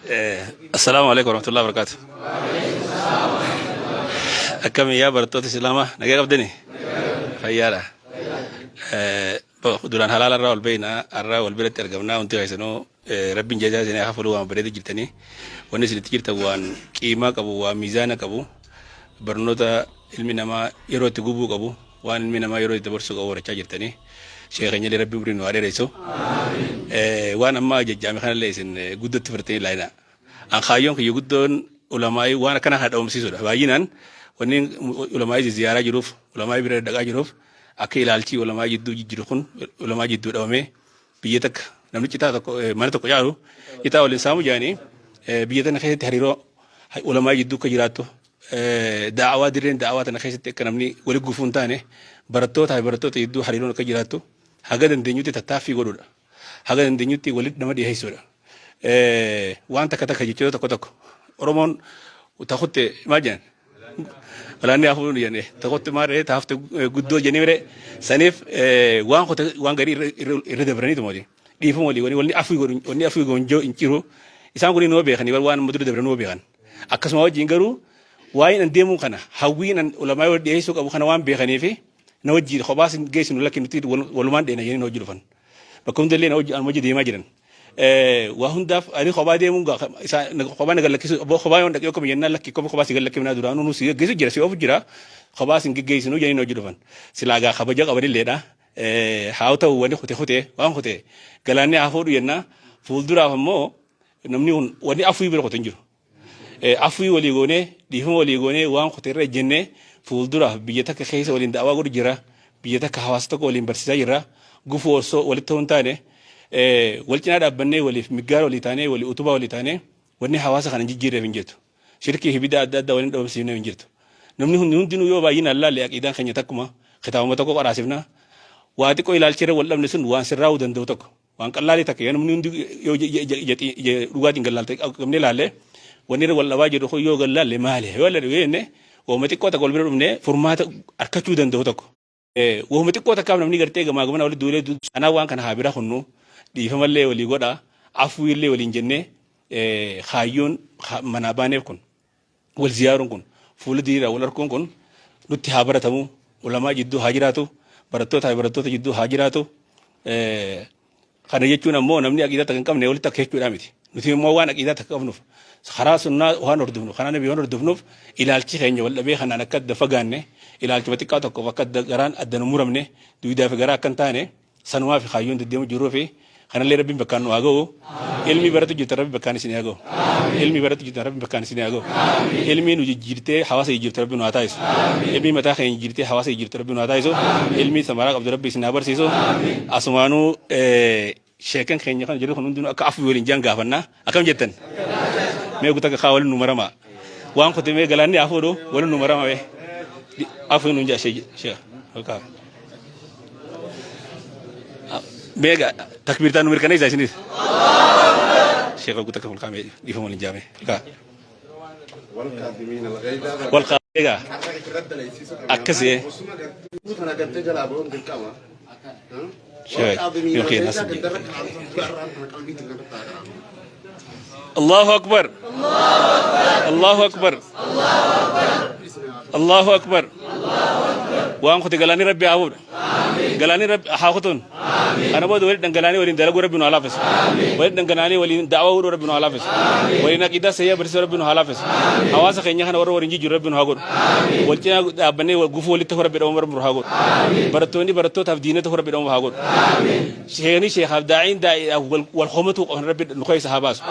Assalaamu alaikum warahmatullahi wabarakatuh. Akkami yaa barattoota Islaamaa nagaa qabdanii? Fayyaadha. Eh, bo- Duraan halaala irraa ol beeknaa har'aa wal biratti argamnaa wanti keessanuu eh, rabbiin jazaa isinii haa fudhu waan bareedu jirtanii wanni isinitti jirtan waan qiimaa qabu waan miizaana qabu barnoota ilmi namaa yeroo itti gubuu qabu waan ilmi namaa yeroo itti dabarsuu qabu barachaa jirtanii sheekh keenyallee rabbi umrii nu haa dheeressu Eh, waan ammaa jajjaame kanallee isin eh, guddatti fudhattanii laayina an kaayyoon kiyya guddoon ulamaa'ii waan akkana kana dhabamsiisuudha baay'inaan wanni ulamaa'ii ziyaaraa jiruuf ulamaa'ii bira dhaqaa jiruuf akka ilaalchii ulamaa jidduu jijjiru kun ulamaa jidduu dhabamee biyya takka namni citaa tokko eh, mana tokko caalu citaa waliin saamu jaanii eh, biyya tana keessatti hariiroo ha- ulamaa jidduu akka jiraattu eh, daawaa dirreen daawaa tana keessatti akka namni wali gufuu hin taane barattoota fi barattoota jidduu hariiroon akka jiraattu haga dandeenyutti tattaaffii godhuudha haga dandeenyutti walitti nama dhiyeessuudha Eh, waan takka takka jechoota tokko tokko oromoon takutte maal jedhan Galaanni hafuun jenne tokkotti maal ta'e taafte guddoo jennee mire saniif waan kota waan garii irra dabranii tumati dhiifama walii walii walii afii godhu walii afii goonjoo hin jiru isaan kun noo beekanii waan amma dura dabran noo beekan akkasuma wajjin garuu waa'een an deemuu kana hawwiin an ulamaa wal dhiyeessuu qabu kana waan beekanii fi na wajjin kophaas geessinu lakki nuti walumaan dheena jennee na wajjin dhufan bakka hundallee na wajjin deemaa jiran. Waa hundaaf ani kophaa deemuun gaa isaa kophaa na gallakkisu abboo kophaa yoon dhaqee akkuma jennaan lakki kopha kophaa si gallakkifnaa duraanuu nu si geggeessu jira si oofu jira kophaa sin geggeessinu jedhanii na hojii dhufan silaa gaa kabaja qabanilleedha haa ta'u wanni kute kute waan kute galaanni haa fuudhu jennaa fuulduraaf ammoo namni kun wanni afuu bira kute hin jiru Afwii walii goonee, dhiifama walii goonee, waan kute irra ejjennee fuulduraaf biyya takka keessa waliin da'awaa godhu jirra. Biyya takka hawaasa tokko waliin barsiisaa jirra. Gufuu ossoo walitti ta'uu hin taane wal cinaa dhaabbannee waliif miggaara walii taanee walii utubaa walii taanee wanni hawaasa kana hin jijjiirreef hin jirtu. Shirkii fi bid'aa adda addaa waliin dhabamsiifneef hin jirtu. Namni hundi hundinuu yoo baay'inaan laalle aqiidaan keenya takkuma. Kitaabuma tokko qaraasifna. Waa xiqqoo ilaalchi irra wal dhabne sun waan sirraa'uu danda'u tokko. Waan qallaalii takka yoo namni hundi yoo ija- ija- ija- ija- ija dhugaatiin gad laalte qabnee laalle wanni irra wal dhabaa jedhu kun yoo gad laalle maali yoo laalle yoo jenne waanuma xiqqoo takka wal bira dhufnee furmaata argachuu danda'u tokko. Eh, Waanuma xiqqoo takkaaf namni gartee gamaa gamana walitti duulee du- sanaa waan kana haa bira kunnu dhiifamallee walii godha afuullee waliin jennee eh, kaayyoon ha- manaa baaneef kun. Wal ziyaaruun kun, fuula diriiraan wal arkuun kun nutti haa baratamu, ulamaa jidduu haa jiraatu, barattootaa fi barattoota jidduu haa jiraatu. Kana jechuun ammoo namni aqiidaa takka hin qabne walitti akka jechuudhaa miti. Nuti immoo waan aqiidaa takka qabnuuf karaa sunnaa waan hordofnu, karaa nabii waan hordofnuuf ilaalchi keenya wal dhabee kanaan akka adda fagaanne, ilaalchuma xiqqaa tokkoof akka adda garaan adda nu muramne, duwidaa fi garaa akka hin taane, Sanumaafi kaayyoon deddeemu jiruufi kanallee Rabbiin bakkaan nu haa ga'u. Ilmii baratu jirtan Rabbi bakkaan isin haa ga'u. Ilmii baratu jirtan Rabbi bakkaan isin haa ga'u. Ilmii nu jijjiirtee hawaasa jijjiirtu Rabbi nu haa taasisu. Ilmii mataa keenya jijjiirtee hawaasa jijjiirtu Rabbi nu haa taasisu. Ilmii samaraa qabdu Rabbi isin haa barsiisu. Asumaanuu sheekan keenya kan jirru kun hundinuu akka afuu waliin jaan gaafannaa. Akkam jettan? Mee guuta kakaa waliin nu maramaa. Waan kote mee galaanni haa fuudhu waliin nu maramaa mee. Di- Afuu nu jaa shee shee kakaa. Mee ga takbiirtaan nu mirkaneessa isinis. Sheekha guuta kakaa mee dhiifama waliin jaamee kakaa. Egaa akkasi yookiin as Allahu akbar Allahu akbar Allahu akbar waan kuti galanii rabbi haa fuudha. Galaanii rabbi haa kutuun. Kana booda waliin dhangalaanii waliin dalaguu rabbi nu haa laaffisu. Waliin dhangalaanii waliin da'awaa hudhuu rabbi nu haa laaffisu. Waliin aqiidaa sayyaa barsiisuu rabbi nu haa laaffisu. Hawaasa keenya kana warra waliin jijjiiru rabbi nu haa godhu. Wal cinaa dhaabbannee wal gufuu walitti ta'uu rabbi dhabama rabbi nu haa godhu. Barattoonni barattootaaf diina ta'uu rabbi dhabama haa godhu. Sheekni sheekaaf daa'iin daa'iidhaaf wal wal homatuu qaban rabbi nu keessa haa baasu.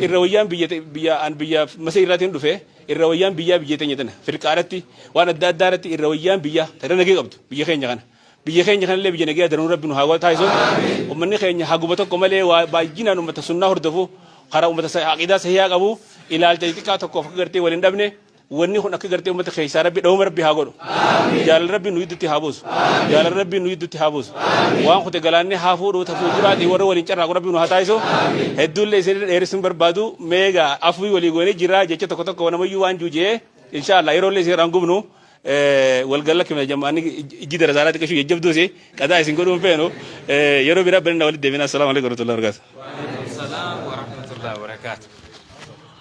Irra wayyaan biyya biyya an biyya masee irraatiin dhufee Irra wayyaan biyyaa biyya teenya tana firqaa irratti waan adda addaa irratti irra wayyaan biyyaa ta irra nagee qabdu biyya keenya kana. Biyya keenya kanallee biyya nagee daranuu rabbi nu haa taasisu. Ummanni keenya haguma tokko malee waa baay'inaan ummata sunnaa hordofu karaa ummata aqiidaa sahihaa qabu ilaalcha xixiqqaa tokkoof akka gartee wal hin dhabne wanni kun akka gartee ummata keessaa rabbi dhawama rabbi haa godhu. Jaalala Rabbiin nu gidduutti haa buusu. Jaalala Rabbiin nu gidduutti haa buusu. Waan kute galaannee haa fuudhu ta fuulduraatii warra waliin carraaqu Rabbiin nu haa taasisu. Hedduullee isin dheeressuun barbaadu meega afwii walii goonee jira jecha tokko tokko namayyuu waan juuji'ee inshaallah yeroollee isin irraan gubnu walgalla kime jammaanni ijji darasaanaa xiqqashuu jajjabduusi qadaa isin godhuun feenu yeroo biraa banina walitti deebina assalaamu alaikum warahmatullahi wabarakatuh. Waalaikum salaam warahmatullahi wabarakatuh.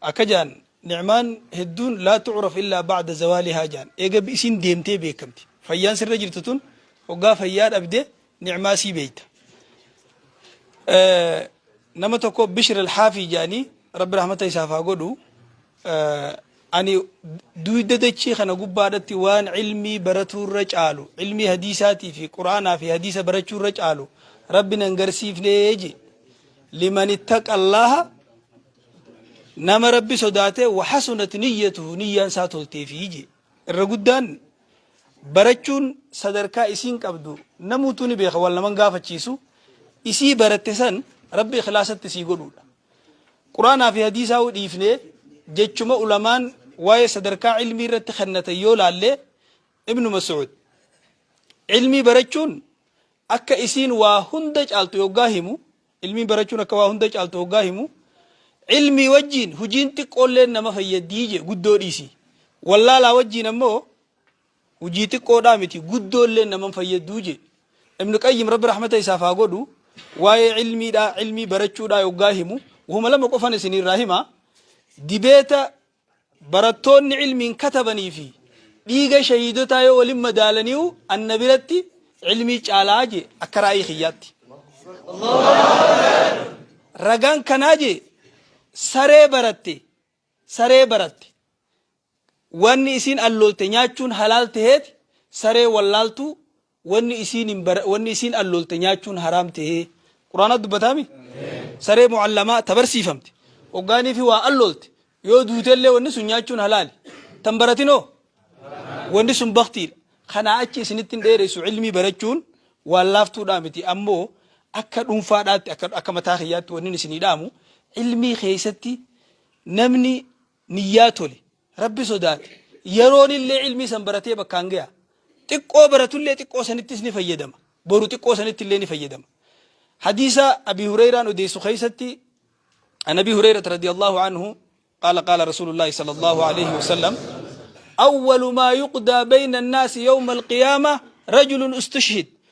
Akka ja'an, Ni'maan hedduun laa tu'raf illaa ba'da zawaalihaa ja'an. Eega isiin deemtee beekkamti. Fayyaan sirra jirtu tun hoggaa fayyaa dhabde ni'maa isii beeyta. Nama tokko Bishr al-Haafii ja'anii Rabbi rahmata isaaf haa godhu. Ani duyda dachii kana gubbaadhatti waan ilmii baratuurra caalu, ilmii hadiisaatii fi Qur'aanaa fi hadiisa barachuurra caalu Rabbi nan garsiifnee je. Liman ittaqa Allaaha nama rabbi sodaatee wahasunat niyyatuhu niyyaan isaa tolteefii jee irra guddaan barachuun sadarkaa isiin qabdu namuutuu ni beeka wal naman gaafachiisu isii baratte san rabbi ikhlaasatti sii godhuudha quraanaa fi hadiisaa u dhiifnee jechuma ulamaan waa'ee sadarkaa ilmii irratti kennatan yoo laallee ibnu mas'ud ilmii barachuun akka isiin waa hunda caaltu yoggaa himu Ilmiin barachuun akka waa hunda caaltu hoggaa himu, Ilmii wajjiin hujiin xiqqoolleen nama fayyaddii jee guddoo dhiisii. Wallaalaa wajjiin ammoo hujii xiqqoodhaa miti guddoolleen nama hin fayyadduu jee. Ibn Qayyim Rabbi rahmata isaaf haa godhu waa'ee ilmiidhaa, ilmii barachuudhaa yoggaa himu wahuma lama qofan isiniirraa hima. Dibeeta Barattoonni ilmiin katabanii fi dhiiga shahiidotaa yoo walin madaalaniiyu anna biratti ilmii caala je akka raayii kiyyaatti. Ragaan kanaa je saree baratte saree baratte wanni isiin alloolte nyaachuun halaal taheeti saree wallaaltuu Wanni isiin hin bara wanni isiin alloolte nyaachuun haraam tahee quraanatti dubbataa mi? Saree mu'allamaa ta barsiifamte hoggaaniifi waa alloolte yoo duutellee wanni sun nyaachuun halaali. Tan baratin hoo? Wanni sun baktiidha. Kanaa achi isinitti hin dheeressu ilmii barachuun waan laaftuudhaa miti ammoo akka dhuunfaadhaatti akka akka mataa kiyyaatti wannin isinii dhaamu ilmii keessatti namni niyyaa tole, Rabbi sodaate, yeroonillee ilmii san baratee bakkaan gayaa. Xiqqoo baratullee xiqqoo sanittis ni fayyadama. Boru xiqqoo sanittillee ni fayyadama. Hadiisa Abii Hureeyraan odeessu keessatti An Abii Hureeyrata radiyallaahu anhu qaala qaala Rasuulullaahi sallallahu alayhi wa sallam Awwalu maa yuqdaa bayna annaasi yawma alqiyaama rajulun ustushhid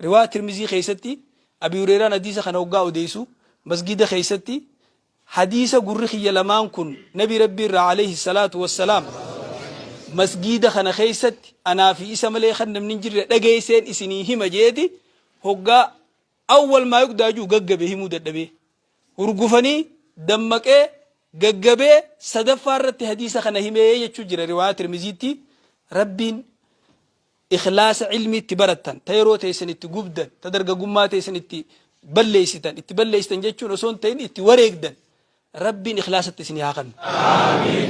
Riwaaya Tirmizii keessatti Abii Hureeyraan hadiisa kana hoggaa odeeysu, masgiida keessatti, Hadiisa gurri kiyya lamaan kun Nabii Rabbii irraa aleyhi salaatu wassalaam masgiida kana keessatti anaa fi isa malee kan namni hin jirre dhageeyseen isinii hima je'eeti hoggaa Awwal maa yuqdaa ju'u gaggabe himuu dadhabee. Hurgufanii, dammaqee, gaggabee sadaffaa irratti hadiisa kana himee jechuu jira riwaaya Tirmiziitti Rabbiin ikhlaasa ilmii itti barattan, ta yeroo teessan itti gubdan, ta dargagummaa teessan itti balleessitan, itti balleessitan jechuun osoo hin ta'in itti wareegdan, Rabbiin ikhlaasatti isinii haa kannu.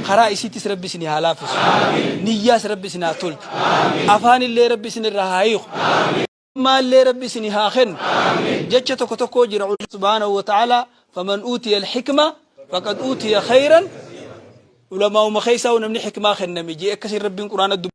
Karaa isiittis Rabbi isinii haa laaffisu. Niyyaas Rabbi isin haa tolchu. Afaanillee Rabbi isin irraa haa hiiku. Ilmaallee Rabbi isinii haa kennu. Jecha tokko tokkoo jira Rabbi subhaanahu wa ta'aalaa faman uutiya al-hikma faqad uutiya khayran ulamaa'uma keessaa'u namni hikmaa kenname jee akkasiin Rabbiin quraana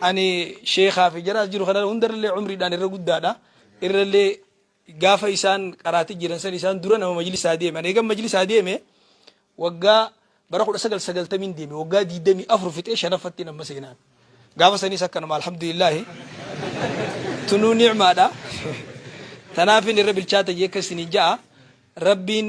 Ani sheekhaa fi jara as jiru kana hundarrallee umriidhaan irra guddaadha. Irrallee gaafa isaan qaraati jiran san isaan dura nama majlisaa deeme. Ani eegan majlisaa deeme waggaa bara 1990 deeme waggaa 24 fixee shanaffattiin amma seenaan. Gaafa sanis akkanuma alhamdulillaahi. Tunuu ni'maadha. Tanaafin irra bilchaata jee akka isiniin ja'a. Rabbiin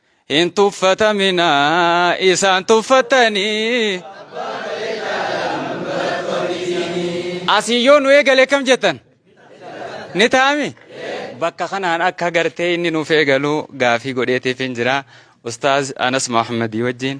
Hin tuffatamina isaan tuffattanii. Asii yoo nu eegale kam jettan? Ni taami? Bakka kanaan akka gartee inni nuuf eegalu gaafii godheetiif hin jira. Ustaaz Anas Muhammadii wajjin.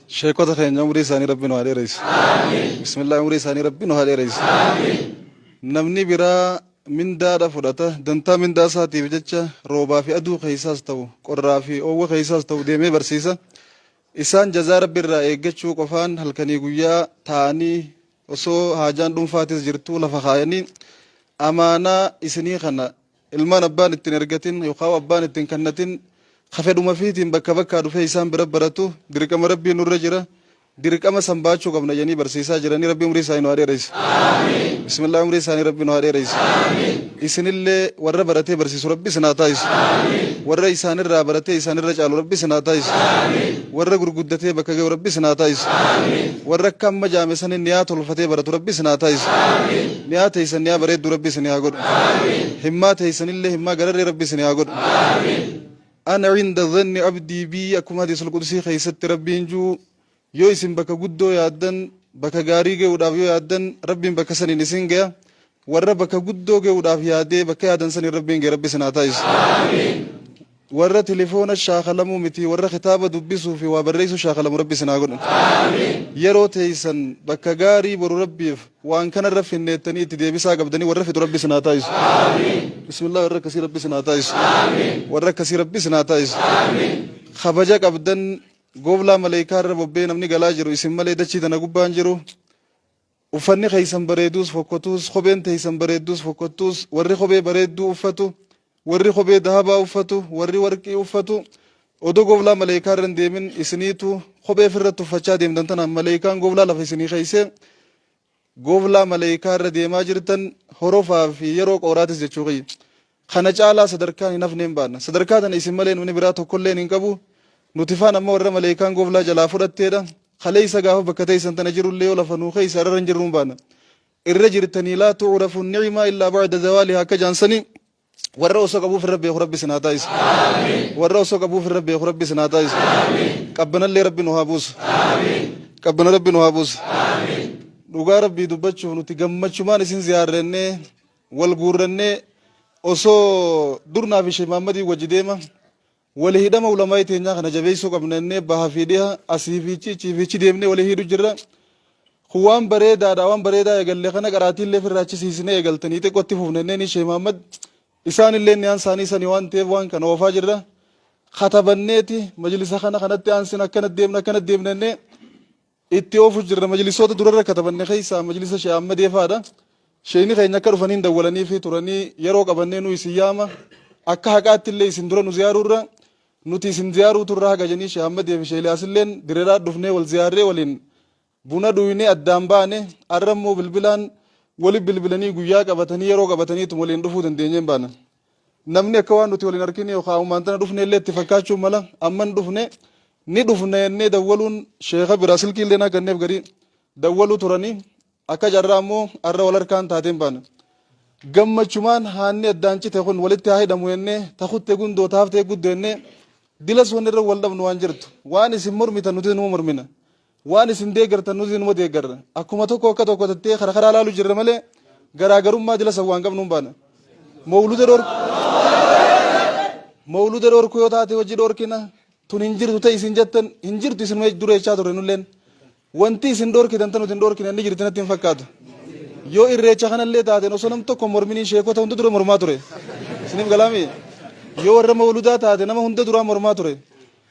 Sheekota keenya umrii isaanii rabbi nu haa dheereysu. Bismillah umrii isaanii rabbi nu haa dheereysu. Namni biraa mindaadha fudhata dantaa mindaa isaatiif jecha roobaa fi aduu keessaas ta'u qorraa fi oowwa keessaas ta'u deemee barsiisa. Isaan jazaa rabbi irraa eeggachuu qofaan halkanii guyyaa taa'anii osoo haajaan dhuunfaatis jirtuu lafa kaayanii amaanaa isinii kana Ilmaan abbaan itti hin ergatin yookaan abbaan itti hin kannatin ka fedhuma fiitiin bakka bakkaa dhufee isaan bira baratu dirqama Rabbii nurra jira. Dirqama san baachuu qabna jedhanii barsiisaa jiranii Rabbii umrii isaanii nu haa dheereysu. Bismillah umrii isaanii Rabbii nu haa dheereysu. Isinillee warra baratee barsiisu Rabbi isin haa taasisu. Warra isaanirraa baratee isaanirra caalu Rabbi isin haa taasisu. Warra gurguddatee bakka gahu Rabbi isin haa taasisu. Warra akka amma jaame saniin niyaa tolfatee baratu Rabbi isin haa taasisu. Niyaa teeysan niyaa bareedduu rabbi isinii haa godhu. Himmaa teeysanillee himmaa gararree rabbi isinii haa godhu. Ana inda dhanni abdii bii akkuma hadiisul qudusii keeysatti rabbiin juu yoo isin bakka guddoo yaaddan bakka gaarii geyuudhaaf yoo yaaddan rabbiin bakka saniin isin geya warra bakka guddoo geyuudhaaf yaadee bakka yaadan saniin rabbiin gee rabbi isin haa taasisu. Warra telefoona shaakalamu miti warra kitaaba dubbisuu fi waa barreessuu shaakalamu rabbi isin haa godhu. Yeroo teessan bakka gaarii boru rabbiif waan kana irra finneettanii itti deebisaa qabdanii warra fixu rabbi isin haa taasisu. Bismillah warra akkasii rabbi isin haa taasisu. Warra akkasii rabbi isin haa taasisu. Kabaja qabdan gooblaa maleekaa irra bobbee namni galaa jiru isin malee dachii tana gubbaan jiru Uffanni keessan bareeduus fokkotuus, kopheen teessan bareedduus fokkottuus, warri kophee bareedduu uffatu, warri kophee dahabaa uffatu, warri warqii uffatu, odoo goblaa maleeykaa irra hin deemin isiniitu kophee ifi irratti uffachaa deemtan tanaan maleeykaan goblaa lafa isinii keessee goblaa maleeykaa irra deemaa jirtan horofaa fi yeroo qooraatis jechuu kiyya. Kana caalaa sadarkaan hin hafneen baanna. Sadarkaa tana isin malee namni biraa tokkolleen hin qabu. Nuti faan ammoo warra maleeykaan goflaa jalaa fudhatteedha. Kaleeysa gaafa bakka teeysan tana jirullee yoo lafa nuu keeysa arara hin jirruun baana. Irra jirtanii laa tu'urafu ni'ima illaa ba'da zawaalihaa akka jaan sanii warra osoo qabuu firra beeku rabbi isin haa taasisu. Warra osoo qabuu firra beeku rabbi isin haa taasisu. Qabbanallee rabbi nu haa buusu. Qabbana rabbi nu haa buusu. Dhugaa rabbii dubbachuuf nuti gammachumaan isin ziyaarrennee Wal guurrannee osoo dur naa fi Sheikh Mahammadiin wajji deema wali hidhama ulamaa'ii teenyaa kana jabeessuu qabna jennee baha fi dhiha asii fi ichi ichii fi ichi deemnee wali hidhu jirra. Kun waan bareedaadha waan bareedaa eegalle kana qaraatiillee ofirraa achisiisnee eegaltanii xiqqoo itti fufna jennee ni Sheikh Mahammad isaanillee niyaan isaanii sani waan ta'eef waan kana oofaa jirra. Katabanneeti majlisa kana kanatti aansina akkana deemna akkana deemna jennee Itti oofu jirra majlisoota durarra katabanne keessaa majlisa Sheikh Ahmadee faadha. Sheikni keenya akka dhufaniin dawwalaniifi turanii yeroo qabannee nu isin yaama akka haqaatti illee isin dura nu ziyaaruurra nuti isin ziyaaruu turra haga janii Sheikh Ahmadee fi Sheikh Iliyaasilleen direraa dhufnee wal ziyaarree waliin buna dhuynee addaan baane arra immoo bilbilaan wali bilbilanii guyyaa qabatanii yeroo qabataniitu waliin dhufuu dandeenyeen baana. Namni akka waan nuti wal hin argine yookaan ammaan tana dhufne illee itti fakkaachuu mala amma hin dhufne ni dhufna jennee dawwaluun sheeka biraa silkii illee naa ganneef garii dawwaluu turanii akka carraa ammoo har'a wal harkaan taateen baana. Gammachumaan haanni addaan cite kun walitti haa hidhamu jennee takutte gundoo taaftee guddo jennee dilas wanni irra wal dhabnu waan jirtu waan isin mormitan nuti numa mormina Waan isin deeggartan nutis inuma deeggarra. Akkuma tokko akka tokko tattee kara karaa laalu jirra malee garaagarummaa dila sawwaan qabnu hin baana. Mawluda dhorku mawluda dhorku yoo taate hojii dhorkina tun hin jirtu ta'e isin jettan hin jirtu isin dura jechaa turre nulleen. Wanti isin dhorkitan tan nuti hin dhorkine ni jirti natti hin fakkaatu. Yoo irreecha kanallee taateen osoo nam tokko morminiin sheekota hunda dura mormaa ture. Isiniif galaami. Yoo warra mawludaa taate nama hunda duraa mormaa ture.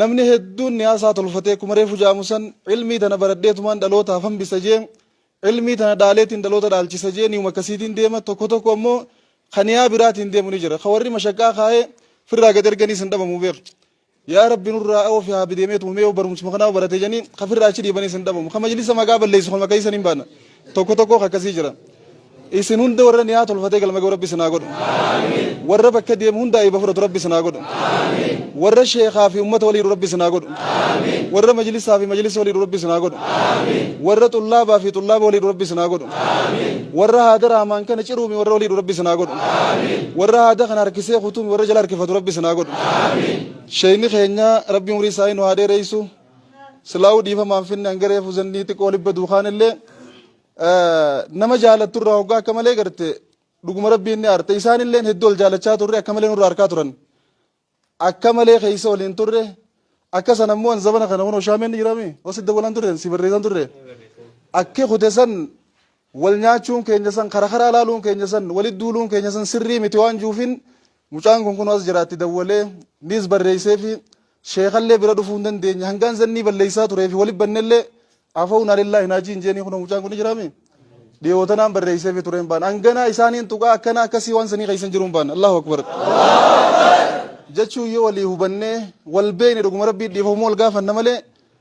Namni hedduun niyaasaa tolfatee akkuma reefu ja'amu san ilmii tana baradheetumaan dhalootaaf hambisa jee ilmii tana dhaaleetiin dhaloota dhaalchisa jee niyuma akkasiitiin deema tokko tokko ammoo ka niyaa biraatiin deemu ni jira ka warri mashaqqaa kaa'ee firraa gad erganii san dhabamu beek yaa rabbi nurraa oofi haa bideemeetuma mee yoo barumsuma kanaa barate janii ka firraa achi dhiibanii san dhabamu ka majlisa maqaa balleessu kan maqaa isan hin baana Tokko tokkoo akkasii jira. Isin hunda warra niyaa tolfatee galma ga'u rabbi sinaa godhu. Warra bakka deemu hunda ayba fudhatu rabbi sinaa godhu. Warra sheekaa fi ummata waliidhu rabbi sinaa godhu. Warra majlisaa fi majlisa waliidhu rabbi sinaa godhu. Warra xullaabaa fi xullaaba waliidhu rabbi sinaa godhu. Warra haada raamaan kana ciruumi warra waliidhu rabbi sinaa godhu. Warra haada kana harkisee kutuumi warra jala harkifatu rabbi sinaa godhu. Sheeyni keenya rabbi umurii isaa nu haa dheereysu. Silaahuu dhiifama hin finne hanga reefu zannii xiqqoo libba duukaan illee nama jaalattu irraa hoggaa akka malee garte dhuguma rabbiin ni aarte isaan illee hedduu ol jaalachaa turre akka malee nurraa harkaa turan akka malee keessa waliin turre akka san ammoo an zabana kana kunoo shaameen ni jiraame hosi dawwalaan turre si barreessan turre akki kute san Wal nyaachuun keenya san, kara karaa laaluun keenya san, walit duuluun keenya san sirrii miti waan juufin mucaan kun kunoo as jira itti dawwalee niis barreesseefi sheekallee bira dhufuu hin dandeenye hangaan zannii balleessaa tureefi walit bannellee afawna lillaahi naa jiin jeenii kunoo mucaan kun ni jiraami dhiyoo tanaan barreesseefi tureen baan hanganaa isaaniin tuqaa akkanaa akkasii waan sanii keessan jiruun baan Allahu Akbar jechuun yoo walii hubannee wal beekne dhuguma rabbii dhiifamuu wal gaafanna malee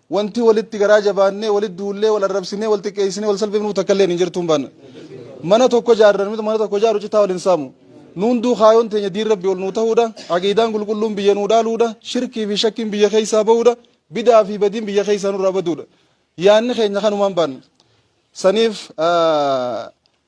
Wanti walitti garaa jabaannee, walitti duullee, wal arrabsinee, wal xiqqeessinee, wal salphifnu takka illeen hin jirtu. Mana tokko ijaarre, namni mana tokko ijaaru citaa wal hin saamu. Nu hunduu kaayoon teenya diin Rabbii ol nuu ta'uudha. Aqiidaan qulqulluun biyya nuu dhaaluudha. Shirkii fi shakkiin biyya keessaa ba'uudha. Bid'aa fi badiin biyya keessaa nurraa baduudha. Yaanni keenya kanumaan baanna. Saniif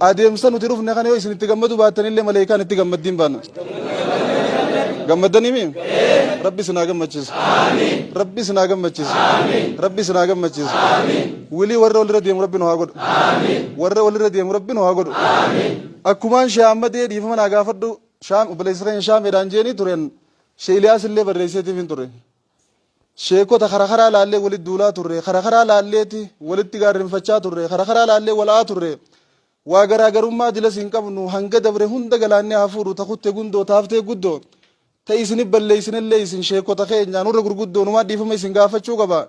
Adeemsa nuti dhufne kana yoo isin itti gammadu baattan illee maleekaan itti gammaddiin baana. Gammaddanii mii? Rabbi isin haa gammachiisu. Rabbi isin haa gammachiisu. Rabbi isin haa gammachiisu. Wilii warra walirra deemu rabbi nu haa godhu. Warra walirra deemu rabbi nu haa godhu. Akkumaan shee Ahmadee dhiifama naa gaafadhu shaam obboleessa keenya shaameedhaan jeeni turen shee Iliyaas illee barreesseetiif hin ture. Sheekota kara karaa laallee walitti duulaa turre, kara karaa laalleeti walitti gaarrinfachaa turre, kara karaa laallee wal a'aa turre. Waa garaa garummaa dilas hin qabnu, hanga dabre hunda galaanni haa fuudhu, ta kutte gundoo, ta haftee guddoo. Ta isin balleessinellee isin sheekota keenya, nurra gurguddoo, numaa dhiifama isin gaafachuu qaba.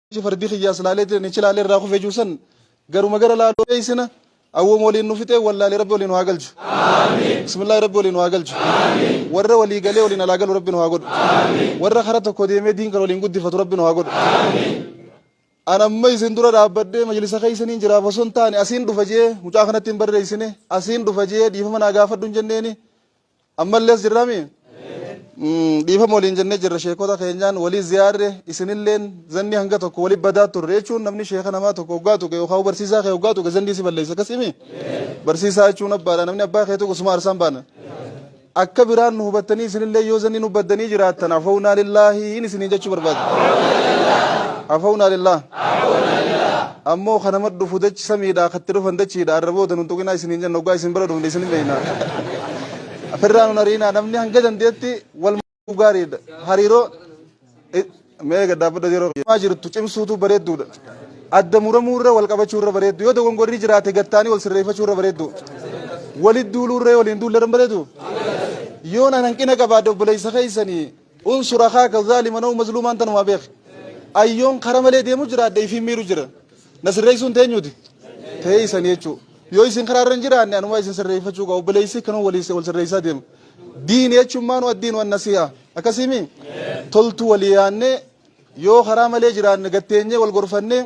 Ati fardi kiyyaa silaalee ture nichi laalee irraa kufee jiru san garuma gara laaluu beeksina awwooma waliin nu fixee wallaalee rabbi waliin nu haa galchu. Bismillaahi rabbi waliin nu haa galchu. Warra walii galee waliin alaa galu rabbi nu haa godhu. Warra karaa tokko deemee diin kan waliin guddifatu rabbi nu haa godhu. An amma isin dura dhaabbadhee majlisa keessaniin jiraaf osoo hin taane asiin dhufa jee mucaa kanatti hin barreessine asiin dhufa jee dhiifama naa gaafadhu hin jenneeni Ammallees jirrami? Dhiifama waliin jennee jirra sheekota keenyaan walii ziyaarre isinilleen zanni hanga tokko wali badaa turre jechuun namni sheeka namaa tokko hoggaa tuqe yookaan barsiisaa kee hoggaa tuqe zanni si balleessa akkasimi? Barsiisaa jechuun abbaadha namni abbaa kee tuqu suma arsaan baana. Akka biraan nu hubattanii isinillee yoo zanni nu baddanii jiraattan afawnaa lillaahi hin isiniin jechuu barbaada. Afawnaa lillaahi. Ammoo ka nama dhufu dachi samiidhaa ka itti dhufan dachiidha arra booda nun tuqinaa isiniin jenna oggaa isin bira dhufne isin hin beeyna firraa nun ariinaa namni hanga dandeetti wal maaduu gaariidha hariiroo mee eega dhaabbadha yeroo maa jirtu cimsuutu bareedduudha adda muramuu irra wal qabachuu irra bareeddu yoo dogongorri jiraate gattaanii wal sirreeffachuu irra bareeddu walit duuluu irra waliin duulle irra bareedu yoo nan hanqina qabaadde obboleessa keessanii Unsur akhaaka zaaliman aw mazluumaan tanumaa beeki. An yoon kara malee deemu jiraadhe ifiin miiru jira. Na sirreessuun teenyuuti? Ta'ee isanii jechuu. Yoo isin karaa irra hin jiraanne anumaa isin sirreeffachuu qaba. Obboleessi kanuu wal sirreessaa deema. Diin jechuun maanu addiin waan nasii'a. Akkasii mii? Toltuu walii yaannee yoo karaa malee jiraanne gatteenyee wal gorfannee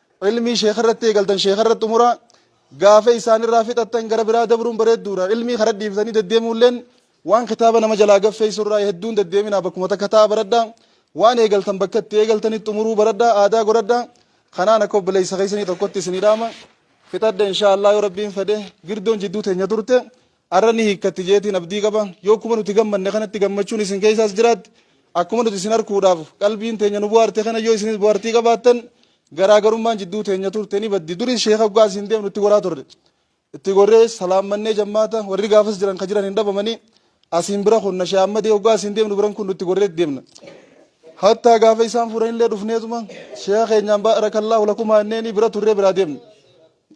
Ilmii sheekarratti eegaltan sheekarratti xumuraa, gaafa isaanirraa fixattan gara biraa dabruun bareedduudha. Ilmii kara dhiiftanii deddeemuulleen waan kitaaba nama jalaa gaffeessurraa hedduun deddeeminaa bakkuma takka taa'aa baradhaa. Waan eegaltan bakka itti eegaltanitti xumuruu baradhaa, aadaa godhadhaa. Kanaan akka obboleessa keessanii tokkotti isinii dhaama. Fixadhe inshaa Allaah yoo Rabbiin fedhe. Girdoon jidduu teenya turte. Arra ni hiikkatti jeetiin abdii qaba. Yoo akkuma nuti gammanne kanatti gammachuun isin keessaas jiraatte, akkuma nuti isin arkuudhaaf qalbiin teenya nu buhaarte kana yoo isinis buhartii qabaattan, garaagarummaan jidduu teenya turte ni baddi. Duris sheeka hoggaa asiin deemnu itti goraa turre. Itti gorree salaammannee jammaata warri gaafas jiran ka jiran hin dhabamanii asiin bira kunna shee Ahmadii hoggaa asiin deemnu biran kun nutti gorreet deemna. Hattaa gaafa isaan furanillee dhufneetuma sheeka keenyaan baarakallaahu lakumaa inneenii bira turree biraa deemne.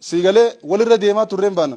Siigalee walirra deemaa turreen baana.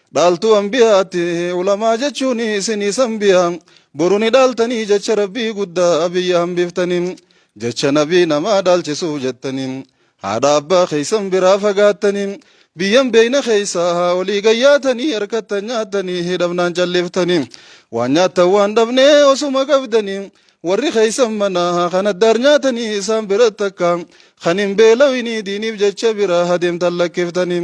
Dhaaltuu anbiyaatti ulamaa jechuun isinii sanbiyaa boru ni dhaaltanii jecha rabbii guddaa biyya hambiftanii jecha nabii namaa dhaalchisuuf jettanii haadha abbaa keeysan biraa fagaattanii biyyan beeyna keeysaa haa olii gayyaatanii harkattan nyaattanii hidhabnaan calliftanii waan nyaattan waan dhabnee osuma qabdanii warri keeysan manaa haa kan addaar nyaatanii isaan biratti akka kan hin beelawinii diiniif jecha biraa adeemtan lakkiftanii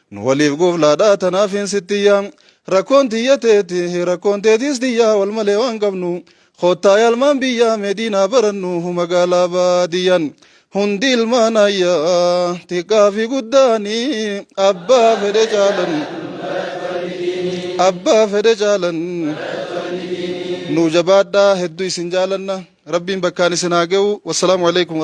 Nu waliif goflaadha tanaafin sitti yaa Rakkoon tiyya teeti rakkoon teetiis tiyyaa Wal malee waan qabnu Koottaa yaalmaan biyyaa Mee diinaa barannu magaalaa baadiyyan Hundi ilmaan ayyaa Xiqqaa fi guddaani Abbaa fedhe caalan Abbaa fedhe caalan Nuu jabaadhaa hedduu isin jaalanna Rabbiin bakkaan isin haa ga'u Wassalaamu alaikum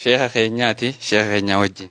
Sheekha keenyaati sheekha keenyaa wajjin.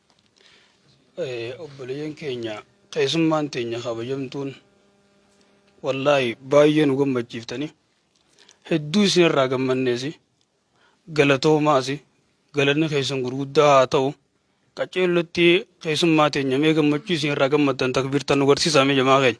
Obboleeyyan keenya keessummaan teenya kabajamtuun wallaahi baay'ee nu gammachiiftani. Hedduu isinirraa gammanneesi. Galatoomaasi. Galanni keessan gurguddaa haa ta'u. Qaceellotti keessummaa teenya mee gammachuu isinirraa gammaddan takbiirtan nu garsiisaa mee jamaa keenya.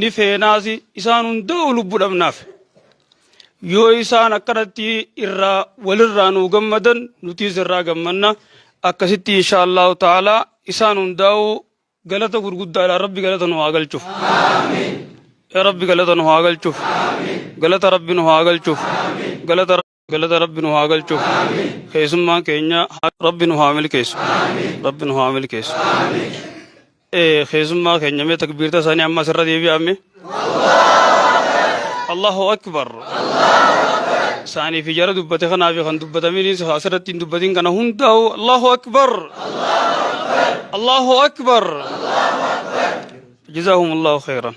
ni feenaas isaan hundaa'u lubbu dhabnaaf yoo isaan akkanatti irraa walirraa nuu gammadan nutiis irraa gammanna akkasitti insha allahu ta'ala isaan hundaa'u galata gurguddaadha rabbi galata nu haa galchuuf rabbi galata nu haa galchuuf galata rabbi nu haa galchuuf galata galata rabbi nu haa galchu keessummaan keenya ha- rabbi nu haa milkeessu rabbi nu haa milkeessu Eh, keessummaa keenya mee takbiirta isaanii amma asirra deebi'ame allahu akbar isaanii fi jara dubbate kanaa fi kan dubbatamiinis asirratti hin dubbatin kana hundaa'u allahu akbar allahu akbar jazaahum allahu khayran